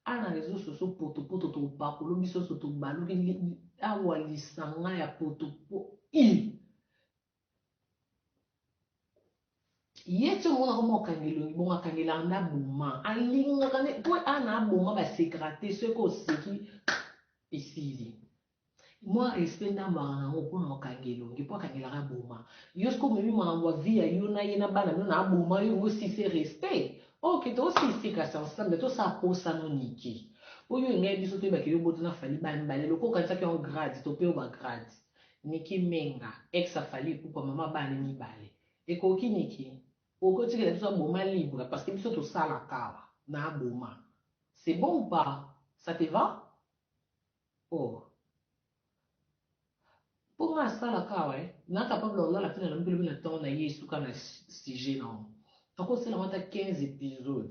ana reseau soso potopoto tobakolo biso so tobaluki awa lisanga ya potopo i ye ti omona koma okanga elongi bongo akanga elanga nde aboma alingaka nde mpo ana aboma basekaka te soki oseki esili Mua respect ndambuaka na ngo kuna okangi elongi po akangelaka aboma yo sikoyo omemi makambo ya vie ya yo na ye na bana bino na aboma yo ngo si se respect ok to si sika sa nsla mais to sa posa no nike po yo engai biso to yebake yo obota na fally ba mbale lokola okanisaki yango grade to pe yo ba grade nike menga ex ya fally ipupa mama bana ne mibale ekoki nike okoki otikela biso aboma libre parce que biso to salaka awa na aboma c'est bon ou pas sa te va Oh po nga asala ka eh na capable ya kolala pena na mibolobi na temps na ye esuka na sujet na ngo ako sala ngo ata 15 episode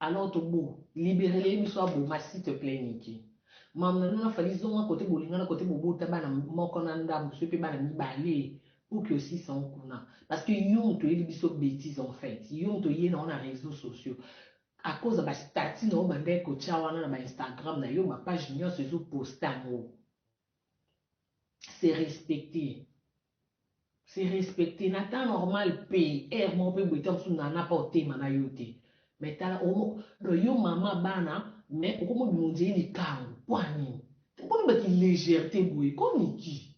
alors to bo libere le biso aboma s'il te plait Nicky mam na nuna fali zonga kote bolingana kote bobota bana moko na ndambu soki pe bana mibale pour que aussi sans kuna parce que yo moto oyeli biso bêtise en fait yo moto ye na ona réseaux sociaux A cause ya ba statuts na yo obandaki kotia wana na ba Instagram na yo, ba pages nionso ezo poster yango. Se respecter. Se respecter. Na temps normal pe, heure moko pe boye temps mosusu Nana pe akoteyema na yo te. Mais tala omo, donc yo maman bana mais okomi obima on dirait likangu. Pona nini? Okomi ba ki legerte boye? Koo Nicky.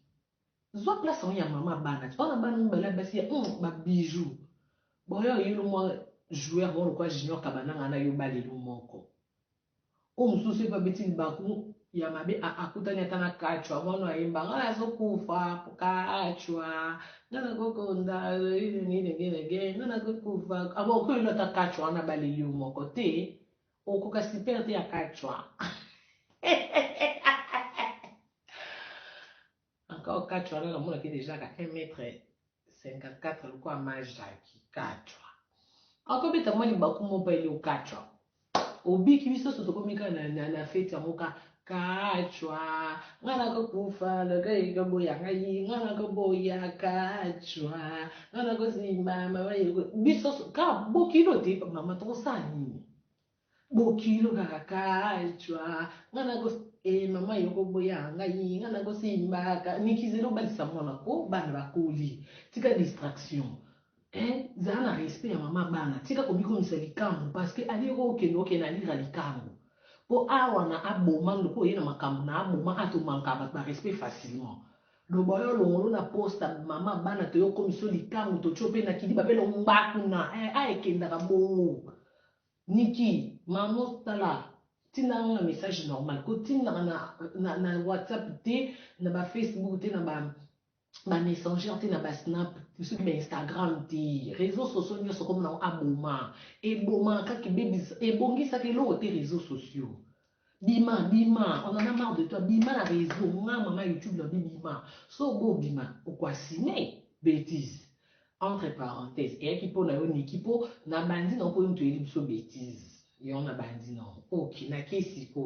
Zwa place yango ya maman bana ti wana bana mibale ya basi ya hum ba bijoux boyo yulu mwa joueur moko lokola junior kabananga na yo balelu moko oyo mosusu soki babeti libaku ya mabe a akutani ata na kachwa yango wana ayemba ngai nazokufa kachwa nga nakokonda nini nini ngai nakokufa abo okoyelo ata kachwa wana baleli yo moko te Okokoka super te ya kachwa encore kachwa wana namonaki deja ka 1 mètre 54 lokola majaki kachwa akobeta mwa libaku mobali okachwa obiki biso so tokomi kaka na, na, na feti yango ka Kachwa nga nako kufa loka eko boya ngai nga nako boya kachwa nga nako simba mama yeko biso ka bokilo te mama toko sa nini bokilo kaka kachwa nga nako e eh, mama yoko boya ngai nga nako simba ka nikizelo balisa mwana ko bana bakoli tika distraction Eeh zala na respect ya maman bana tika komikomisa likambu parce que alie ko kende okende alira likambu po awa na aboma ndoki oye na makambu na aboma a to manquaka batu ba respect facilement loba yo alongolo na poste ya maman bana toye okomisa yo likangu totie yo pe na kidiba pe longbaku na eeh a ekendaka bongo Nicky maman tala tinda yango na message normal ko tindaka na na na whatsapp te na ba facebook te na ba ba messenger te na ba snap te soki ba instagram te reseau sociaux nionso okomona yango aboma eboma kaka ebebisa ebongisaka eloko te reseau sociaux bima bima on en a marre de toi bima na reseau nga mama youtube na bi bima so obo obima okwasine betise entre parenthèse eyaki mpo na yo niki mpo na bandi na mpo yo moto oyeli biso betise yango na bandi na ok na kesi ko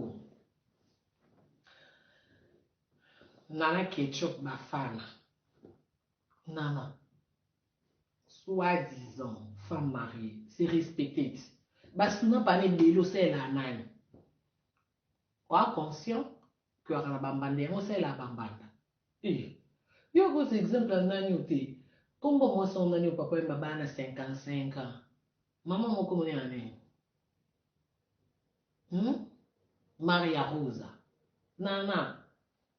Nana ketchup bafana nana soit disant femme mariee se respecter ti ba suna bana ebele osalelaka nani oa conscient que ozalaka na ba mbanda yango osalelaka ba mbanda eh yo okosa exemple ya nani oyo te kombo ya mwasi yango nani oyo papa oyemba bana na 55 ans Maman moko kombo naye nani? Hum? Maria Rosa. Nana.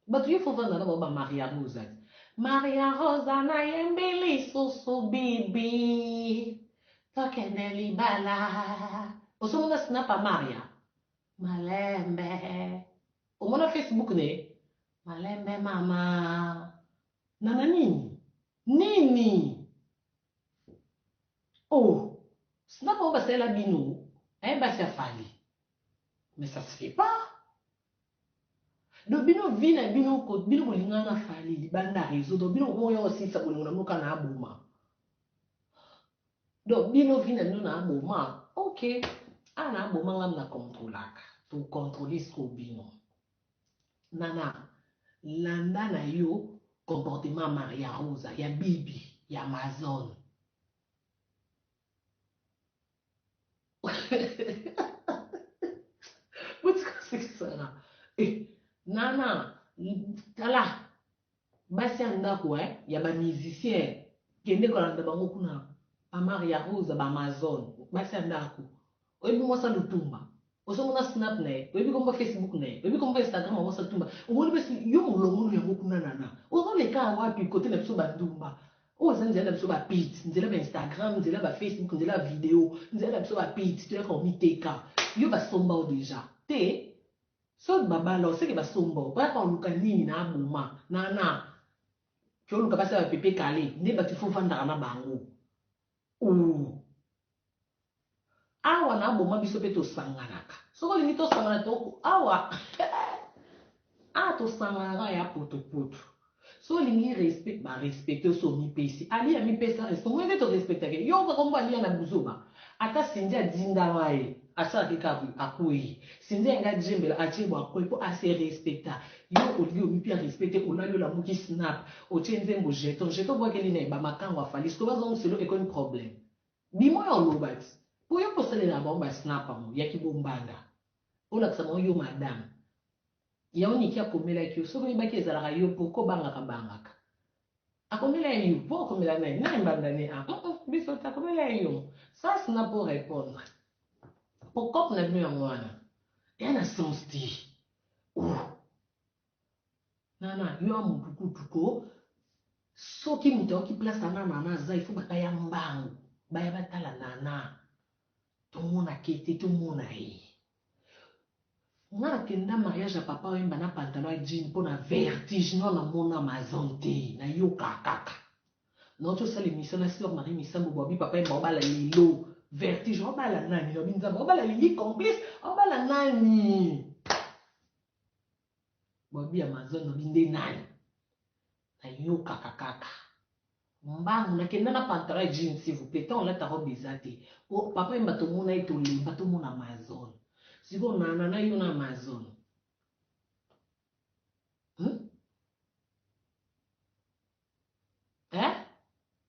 Bato yo faut vanda na ba Maria Rosa. Maria Rosa na yembeli susu bibi. Tokende libala. Osomona snap a Maria? Malembe. Omona Facebook ne? Malembe mama. Nana nini? Nini? Oh snap oyo basalela bino eh basi ya fally mais ça se fait pas donc bino vie na bino bino bolingana na fally libanda réseau donc bino okomoya osilisa bolingo na moka na aboma donc bino vie na bino na aboma ok awa na aboma ngam na controlaka tocontrole siko bino Nana landa na yo comportement ya Maria Rosa ya bibi ya Amazone botika kosekisa nga eh Nana tala Basi ya ndaku eh ya ba musiciens kende kolanda bango kuna ba maria rosa ba amazon basi ya ndaku oyebi mwasi ya lutumba ozo mona snap na ye oyebi kombo ya facebook na ye oyebi kombo ya instagram ya mwasi ya lutumba omoni basi yo mulongulu yango kuna nana ozo leka wapi kote na biso ba ndumba oyo eza nzela na biso ba pit nzela ba instagram nzela ba facebook nzela ba video nzela na biso ba pit toyaka komiteka yo basomba yo deja te Soki ba bala oseke ba somba yo bayaka koluka nini na aboma na na kioluka basi ya ba pepe kale nde batu il faut ofandaka na bango ooh awa na aboma biso pe tosanganaka soki olingi tosangana to awa awa tosanganaka ya potopoto Soki olingi respect ba respecte yo soki omipesi aliya amipesa respect omoni ndeti o respectaka ye yo okoka kombo aliya na buzoba ata Cindy adindama ye asalaki kaka boye akueyi Cindy alingi adiembela atie boye akueyi po a se respecta yo olie omipia respect te olali olamuki snap otie nzembo jeton jeton obuakeli naye ba makangu ya Fally sikoyo bazo musolo ekomi problème bima oya oloba ti po yo pe osalelaka bango ba snap yango ya ki bombanda olakisa bango yo madame Yango Nicky akomelaki yo soki oyebaki ezalaka yo pourquoi obangaka bangaka akomela ye yo po okomela naye naye mbanda ne a uh uh biso te akomela ye yo sas na po repondre po cop na bino yango wana eya na sens te uh nana yo a mutu kutu ko soki mutu ayoki place ana nana aza il faut bakaya mbangu baya batala nana tomona kete tomona ye Nga na kenda mariage ya papa wemba na pantalon ya jean pona vertige non na mona mazan te na yoka kaka na uti osala emission na sœur marie misambo bo abi papa wemba obala lelo vertige obala nani na bi nzambe obala lili complice obala nani Bolobi Amazon lobi nde nani? Nayokaka kaka mbangu nakenda na pantalon ya jeans s'il vous plaît tant olata robe eza te po papa yemba tomona ye tolemba tomona Amazon sikoyo nana na yo na Amazon hmm? eh?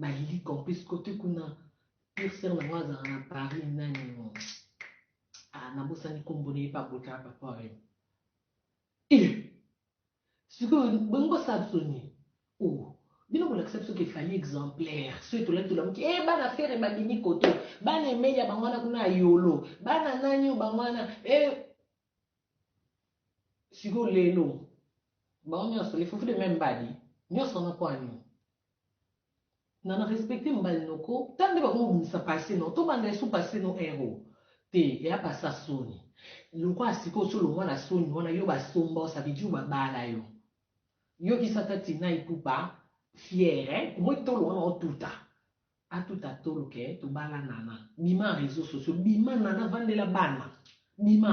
Balili Corpus cote kuna pire sœur na nga azalaka na Paris nani mo ah nabosani kombo na ye pa bota pa foreign eh sikoyo bongo kosala biso nini oh bino bolakisa biso ke fali exemplaire soki tolaki tolamuki e eh, bana fere babimi koto bana emelia bango wana kuna ya yolo bana nani oyo bango wana e eh, Sikoyo lelo bango nyonso les fufu de meme mbadi nyonso wana mpo ya nini? na na respecte mbali noko ta nde bakomi kobimisa passe no tobanda esu passe no ero te eya passe ya soni lokola sikoyo osi olongwa na soni wana yo basomba yo ça veut dire babala yo yokisa ta tina ipupa fiere omoi tolo wana otuta A tout à tolo que tobala nana bima reseaux sociaux bima nana vandela bana bima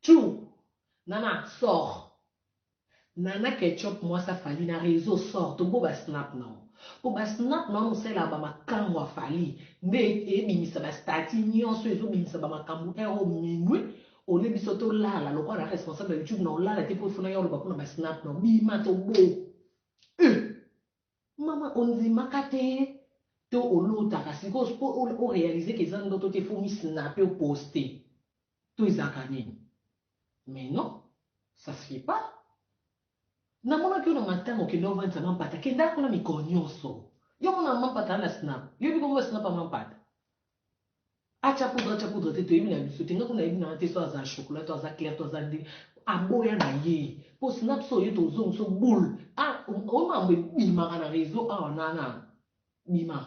tchou nana sort nana ketchup mwasi ya fally na reseaux sort tobo ba snap na yo po ba snap na yo mosalelaka ba makambu ya fally nde ebimisa ba stati nioso ezo bimisa ba makambu heure oyo minuit au lieu biso to lala lokola na responsable ya youtube na olala te po il faut na ya oloba pona ba snap na yo bima tobo eu Maman ondimaka te to olotaka sikoyo po o realiser que eza ndoto te faut omi snapper o poster to ezalaka nini mais non ça se fait pas namonaki yo na matanga okenda ovandisa mampata kenda kuna mikolo nionso yo omona mampata na snap yo oyebi kombo ya snap ya mampata Atia poudre atia poudre te toyebi na biso te nga kuna nayebi nanga te soit aza chocolat to aza clair to aza ndini aboya na ye po snga biso oye tozongi biso boule ah oyo mambo ebimaka na reseau awa na na bima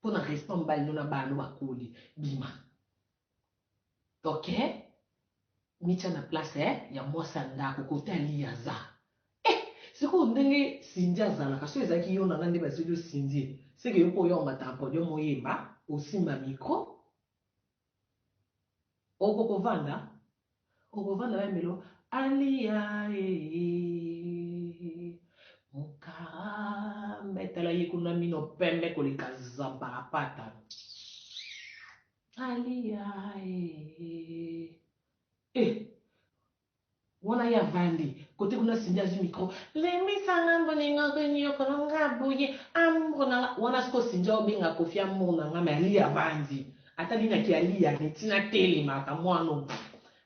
po na respect mibali no na bana no bakoli bima Ok mitia na place eh, ya mwasi ya ndako kote aliya aza eh, sikoyo ndenge sindi azalaka so ezalaki yo nanga nde bazeli osindi seke yo mpo oya omataka podium oyemba osimba mikro oko kovanda okovanda bayembelo aliya ee mokara metala ye kuna mino pembe koleka zamparapata Thalia eh eh wana ye avandi kote kuna Cindy azwi micro lembisa nga mbo ninga ko nyokolo nga boye amour na nga wana siko Cindy aobenga Koffi amour na nga mais Aliya avandi ata nini ake Aliya ne tina telema ka mwana oyo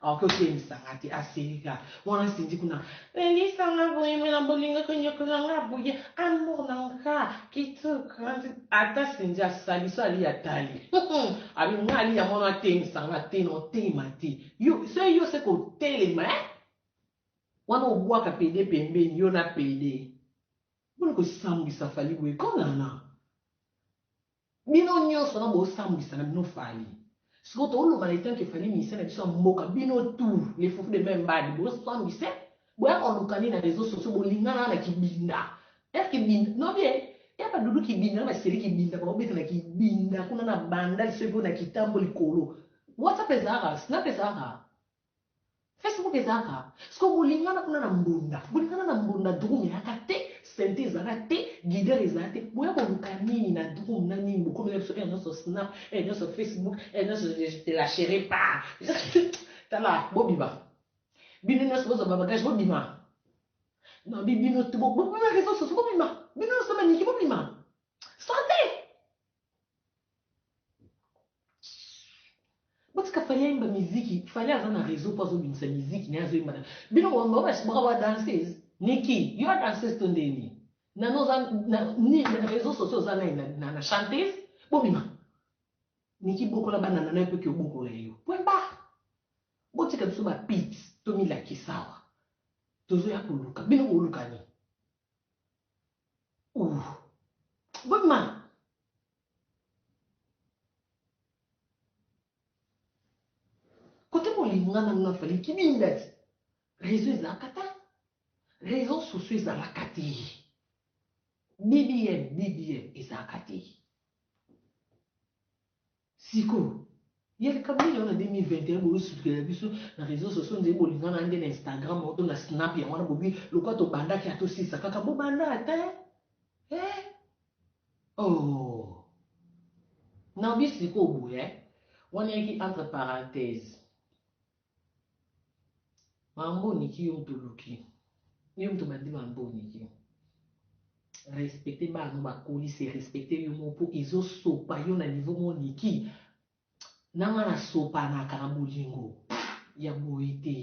Akoki otelisa nga te asilika wana Cindy kuna lelisa nga boye mais na bolingo koniokola nga boye amour na nga kitoko ata Cindy asali so ali atali abi nga ali ya mwana atelisa nga te na otema te yo se yo se kotelema eh wana obwaka pede pembeni yo na pede boni kosambwisa fali boye konana Bino nionso wana bo sambwisa na bino fally sikoyo to loba na etant que fally musicien na biso ya mboka bino tout les fufu de main mbadi bo sambwise boya ko luka nini na reseaux sociaux bo lingana na kibinda est ce kibinda no bien ya ba doudou kibinda na ba seri kibinda ba obeta na kibinda kuna na bandal soki po na kitambo likolo whatsapp ezalaka snap ezalaka Facebook eza kaka sikoyo bolingana kuna na mbunda bolingana na mbunda drum eyaka te sente ezala te guidere ezala te boya koluka nini na drum na nini bokomela biso heure nyonso snap heure nyonso facebook heure nyonso te la chere pa tala bobima bino nyonso bozwa babagage bobima nabi bino bobima reseau soso bobima bino nyonso maniki bobima sante botika fali ayemba miziki fali aza na réseau mpo azobimisa miziki naye azoyemba na bino bokabasibaka ba danses niki yo adanses to nde nini nano oza nini na réseau sociaux oza nai na chantes bobima niki bokola bana nano ekoki obokola yo pwemba botika biso bapit tomilakisawa tozoya koluka bino bolukani Uuh bobima kote bolinga nanu na fali kibindadi reseau ezalaka ta reseau sociaux ezalaka te bbm bbm ezalaka te Sikoyo ya likambo nini yango na 2021 bozo sutulela biso na reseaux sociaux on dirait bolingana nde na Instagram oto na snap yango wana bobi lokola tobanda kia tosilisa kaka bobanda ata eh oh Naomi sikoyo boye wana yaki entre parenthèse Mambo niki yo mutu oluki yo mutu bandi mambo niki respecte bana no bakoli se respecte yo moko po ezo sopa yo na niveau mo niki na nga na sopanaka na bolingo ya boye te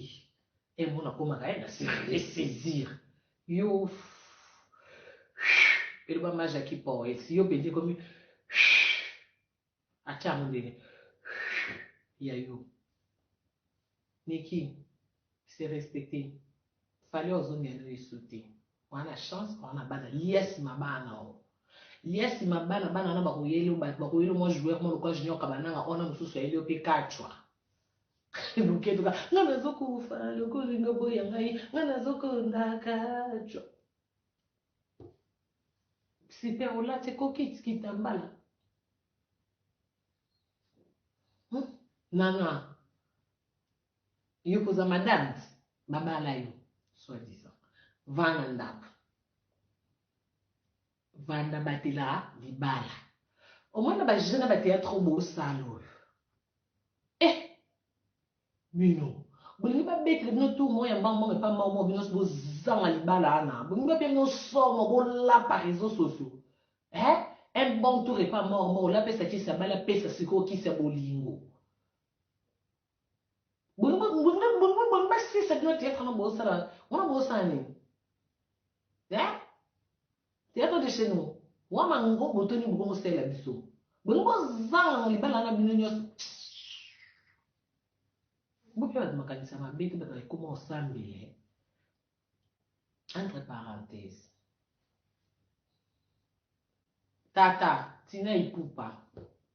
e mo nakomaka ye na se ressaisir yo eloba maja ki poes yo penza ekomi atia mundele ya yo Nicky se respecte fally ozongi na yesu te oza na chance oza na bana lia nsima bana o lia nsima bana bana wana bakoyeli bato bakoyeli mwa joueur mwa lokola junior kabananga ona mosusu ayeli yo mpe kacwa luketuka nga nazokufa lokolinga boya ngai nga nazokonda kacwa Super olati ko kit kitambala hmm? nana yo koza madame babala yo soit disant vana ndako vanda batela libala omona bajeune na bateatre bosala oyo eh Bino. Bolingi ba betela bino tour moko ya mbangu mbangu epa mbangu moko bino nionso bo zanga libala wana bolingi ba pia bino somo bo lapa reseaux sociaux eh un bon tour epa mbangu mbangu la pesa kisi abali apesa sikoyo kisi ya bolingo bolingi bolingi bolingi bolingi ba sisa bino theatre wana bo sala wana bo sala nini eh Theatre de chez nous wa ma ngo boto nini bokomo sela biso bolingi bozanga na libala na bino nyonso boke bato makanisi ya mabe te bato ekoma osambele entre parenthèse tata tina ipupa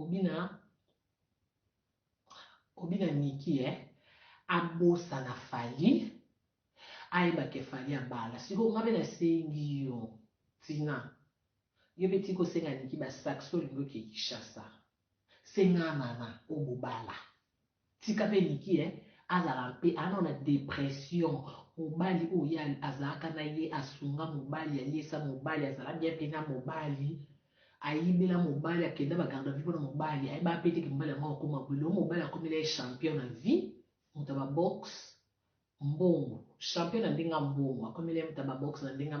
Obina obina Nicky eh abosana Fally ayeba ke Fally abala sikoyo nga pe na sengi yo Tina yo pe tika osenga Nicky ba sacs olingi oke Kinshasa senga Nana oyo bobala. Tika pe Nicky eh azala npe aza nanu na depression mobali oyo ye azalaka na ye asunga mobali aliesa mobali azala bien pe na mobali ayibela mobali akenda ba garde à vue pona mobali ayebaka pe te ke mobali yango akokoma boye lelo mobali akomela ye champion na vie mutu ya ba boxe mbongo champion na ndenge ya mbongo akomi na ye moto ya ba box na ndenge ya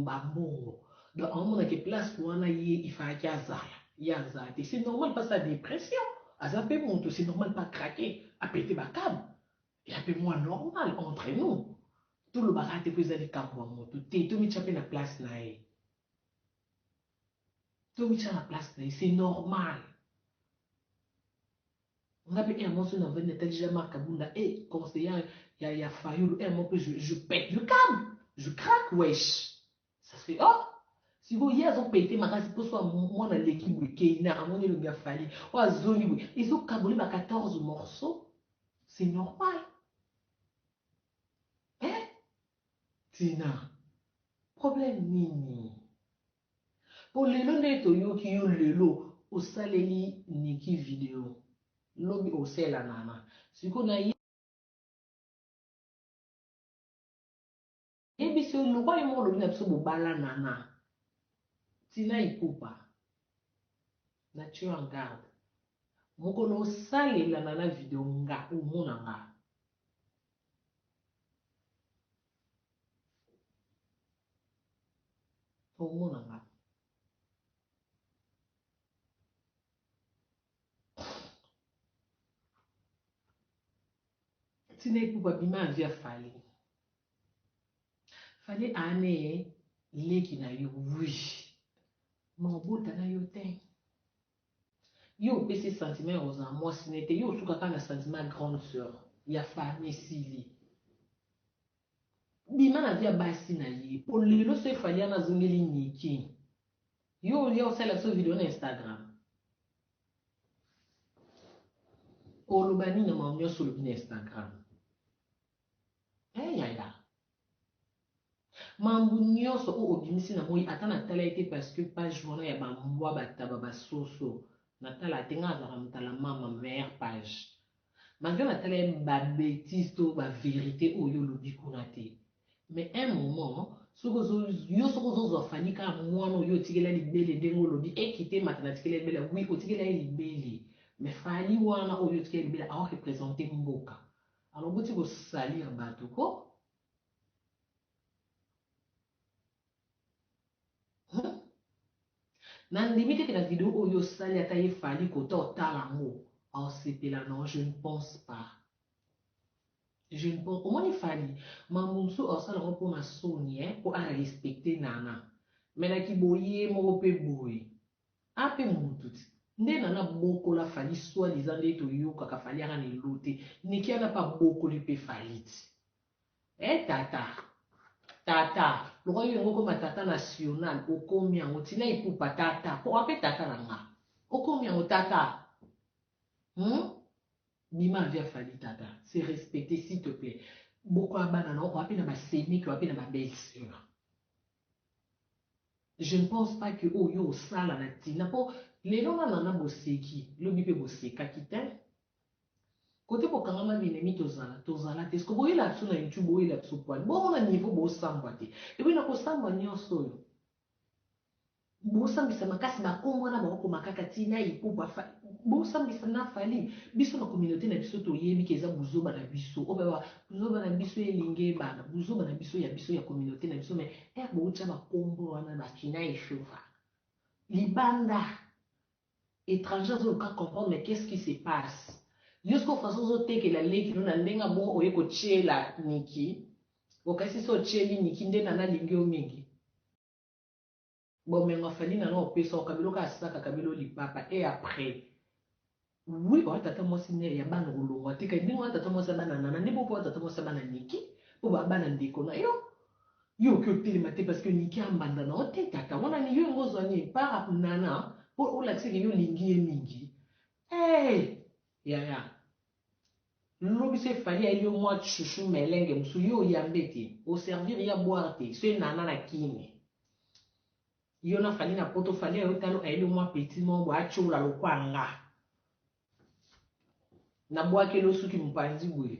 ba mbongo donc aomona ke place wana ye il falaki azala ye aza te c'est normal pas sa depression aza pe moto c'est normal pas craque a pete ba cable ya pe mua normal entre nous tolobaka te po eza likambo ya moto te tomitia pe na place na ye tomitia na place na ye c'est normal Nga pe heure moko soki na vandi na tali jean marc kabunda eh conseillant ya ya fayulu heure moko pe je je pète le came je craque wesh ça fait oh sikoyo ye azo pete makasi poso ya mwana aleki boye keina amoni elongi ya fali oyo azongi boye ezo kabole ba 14 morceau c'est normal eh tina problème nini Po lelo nde toyoki yo lelo osaleli Nicky video lobi osela Nana sikoyo na yebisi yo loba yo moko olobi na biso bobala Nana Tina Ipupa na tio yo en garde mokolo osalela Nana video nga omona nga. Congo na nga. Tina Ipupa bima na vie ya Fally. Fally ane leki na yo, oui. Ma obota na yo te. Yo opesi ye sentiment ya kozala muasi naye te yo osuka kaka na sentiment ya grande soeur ya fally esili bima na vie ya basi naye po lelo soki fally wana azongeli Nicky yo olia osalela biso video na Instagram oloba nini na makambo nionso olobi na Instagram eh yaya Mambu nionso oyo obimisi na moyi ata na tala ye te parce que page wana ya ba mbwa ba taba ba soso na tala te nga nazalaka mutala mama meilleur page malgre na tala ye ba betise to ba verite oyo yo olobi kuna te mais un moment soki ozo yo soki ozo zua Fally kaka mwana oyo yo otikela libele ndenge olobi eh kite mata na tikela libela oui otikela ye libele mais Fally wana oyo yo otikela libela azo representer mboka alors botika ko salir batu ko. Na ndimi te que na video oyo osali ata ye fali kota otala yango aosepela non je ne pense pas je ne pense omoni fali mambo mosusu aosala yango mpo na soni eh, mpo arespecte nana me na kiboye moko mpe boye AP Munu Tutsi nde nana bokola Fally soit disant nde to yokaka Fally aka na eloo te Nikia nape abokoli pe Fally ti eh tata tata lokola yo olingi okoma tata national okomi yango ti na ipupa tata koma pe tata na nga okomi yango tata hum bima vie ya Fally tata se respecter s'il te plait bokola bana na yo oa pe na ba semeki oa pe na ba belle soeur Je ne pense pas que oyo yo osala na tina po lelo na nana boseki lobi pe bosekaki tein kote bokangama binemi tozala tozala te siko boyela biso na youtube boyela biso poil bomona niveau bosambwa te epuis na kosambwa nionso oyo Bosambisa makasi ba kombo wana bako koma kaka ti na ipupa fa bosambisa na fally biso na communaute na biso toyebi ke eza buzoba na biso obe ba buzoba na biso elingi ebana buzoba na biso ya biso ya communaute na biso mais heure boko tia ba kombo wana ba kinayi shova libanda etranger azo luka comprendre qu'est ce qui se passe yo sikoyo façon ozo tekela leki no na ndenge abongo oye ko tiela nicky okasi se otieli nicky nde nana alingi yo mingi Bomengo ya Fanny nanu opesa oka biloko ya sac akabeli yo lipapa et après? Oui oa tata mwasi mère ya bana okolongwa te kadi ndenge oa tata mwasi ya bana nana nde bongo pe oa tata mwasi ya bana Nicky po ba bana ndeko na yo yo oke otelema te parce que Nicky a mbanda na yo te tata wana ni yo engo ozwa nini par nana po olakisa ke yo olingi ye mingi eeh yaya Lobi soki Fally ayebi yo mua chouchou melenge mosusu yo oyambe te, o servir ya boire te, soki Nana na kin yo na Fally na poto Fally ayo talo ayebi yo mua petit moko boye atshiola lokua nga na buakeli yo suki mupanzi boye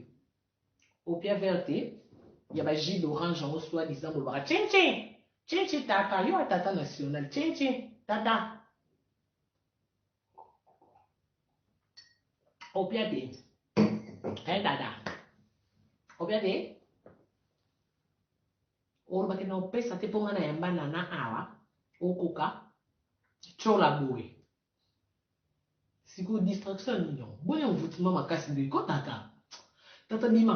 opia vert te ya ba jus d'orange yango soit disant bolobaka tchin tchin tchin tchin tata yo a tata national tchin tchin tata Opiate. Eh, dada. Opiate. olobaki na opesa te mpo ngai na yamba nana awa okoka tyola boye sikoyo distraction nini yango boya envoutement makasi nde ko tata tata bima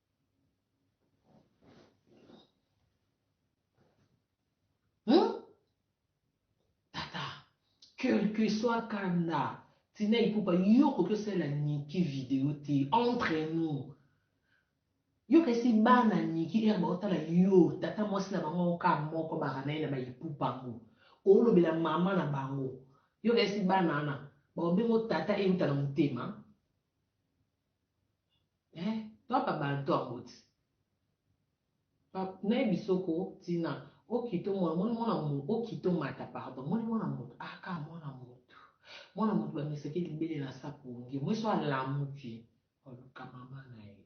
Hein? Tata, quel que soit Kanda, Tina Ipupa, yo koki osala Niki video te, entre nous. Yo kasi bana Niki, er baotala yo, tata mwasi na bango oka moko baranai na ba Ipupa ngo. Olobela mama na bango. Yo kasi bana ana, baobengo tata euta na motema. Eh toi pa bantu aboti pa naye bisoko tina okito mwana moni mwana mutu okito mata pardon moni mwana mutu aka ah, mwana mutu mwana mutu bamesaki libele na sapongi mweso alamuki oluka mama na ye